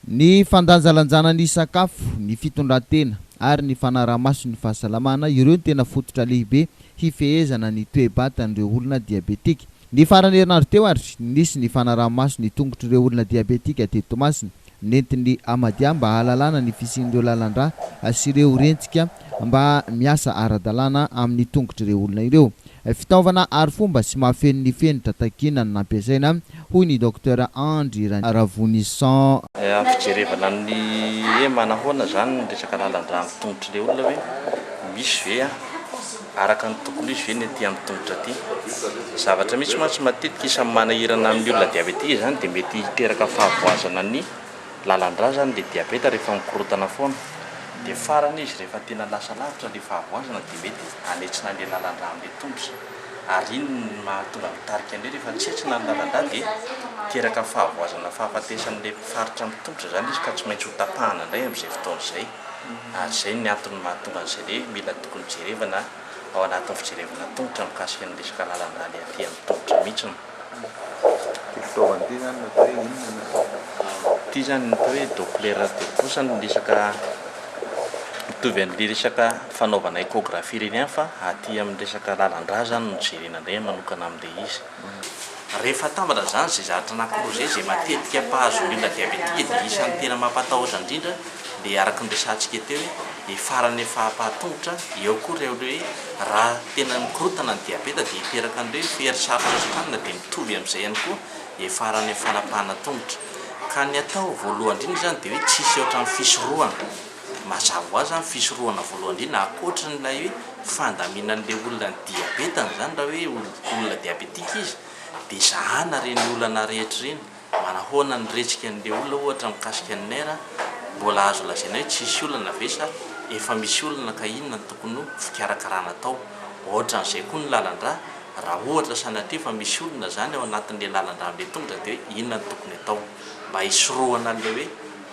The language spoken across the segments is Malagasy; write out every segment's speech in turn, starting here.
Ny fandanjalanjana ny sakafo, ny fitondran-tena, ary ny fanaraha-maso ny fahasalamana, ireo no tena fototra lehibe hifehezana ny toe-batan'ireo olona diabetika. Ny faran'ny herinandro teo ary, nisy ny fanaraha-maso ny tongotr'ireo olona diabetika teto Toamasina. Nentin'ny Hamadia mba hahalalana ny fisian'ireo lalan-drà sy ireo rentsika mba miasa ara-dalàna amin'ny tongotr'ireo olona ireo. Fitaovana arifomba sy mahafeno ny fenitra takiana no nampiasaina, hoy ny Docteur Andry Ravonison. Fijerevana ny hoe manahoana izany ny resaka lalan-drà amin'ny tongotr'ilay olona hoe misy ve araka ny tokony ho izy ve ny aty amin'ny tongotra aty. Zavatra mihitsy mantsy matetika isan'ny manahirana ny olona diabetika izany dia mety hiteraka fahavoazana ny. Lalandra zany le diabeta rehefa mikorotana foana de farany izy rehefa tena lasa lavitra le fahavoazana de mety anetsina anle lalandra amle tongotra ary iny no mahatonga mitarika anle rehefa tsy hetsina ny lalandra de miteraka fahavoazana fahafatesanle faritra am tongotra zany izy ka tsy maintsy hotapahana ndray amzay fotoana zay ary zay ny antony mahatonga anzay le mila tokony jerevana ao anatin'ny fijerevana tongotra mikasika ny resaka lalandra le aty am tongotra mihitsy no Ity fitaovana ity zany atao hoe inona ny atao? Ity zany ny atao hoe Doppler de pouce no resaka mitovy an'le resaka fanaovana échographie ireny ihany fa aty amin'ny resaka lalan-drà zany no jerena indray manokana amin'ilay izy. Rehefa atambatra izany izay zavatra na projet izay matetika mpahazo ny olona diabetika dia isan'ny tena mampatahotra indrindra dia araka ny resahantsika teo dia faran'ny fahapaha-tongotra dia ao koa ireo hoe raha tena mikorontana ny diabeta dia hiteraka an'ireo hoe fery sarotra sokanina dia mitovy amin'izay ihany koa dia faran'ny fanapahana tongotra ka ny atao voalohany indrindra izany dia hoe tsisy ohatran'ny fisorohana mazava ho azy izany fisorohana voalohany indrindra ankoatran'ilay hoe fandaminan'ilay olona ny diabetany izany raha hoe olona diabetika izy dia zahana ireny olana rehetra ireny Manahoana ny rejikan'ilay olona ohatra mikasika ny maire, mbola azo lazaina hoe tsisy olana ve sa efa misy olana ka inona no tokony ho fikarakarana atao? Ohatran'izay koa ny lalandrà, raha ohatra sanatria fa misy olona izany ao anatin'ilay lalandrà be tongotra dia hoe inona no tokony atao mba hisorohana an'ilay hoe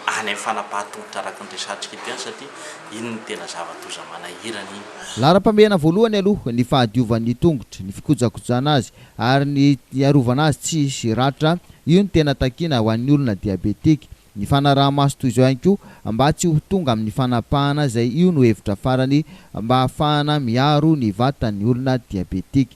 any amin'ny fanapahan-tongotra araka ny resahantsika eto ihany satria iny no tena zava-doza manahirana iny. Laharam-pahamehana voalohany aloha ny fahadiovan'ny tongotra, ny fikojakojana azy, ary ny hiarovana azy tsy hisy ratra, io no tena takiana ho an'ny olona diabetika. Ny fanaraha-maso toy izao ihany koa mba tsy ho tonga amin'ny fanapahana izay io no hevitra farany mba hahafahana miaro ny vatan'ny olona diabetika.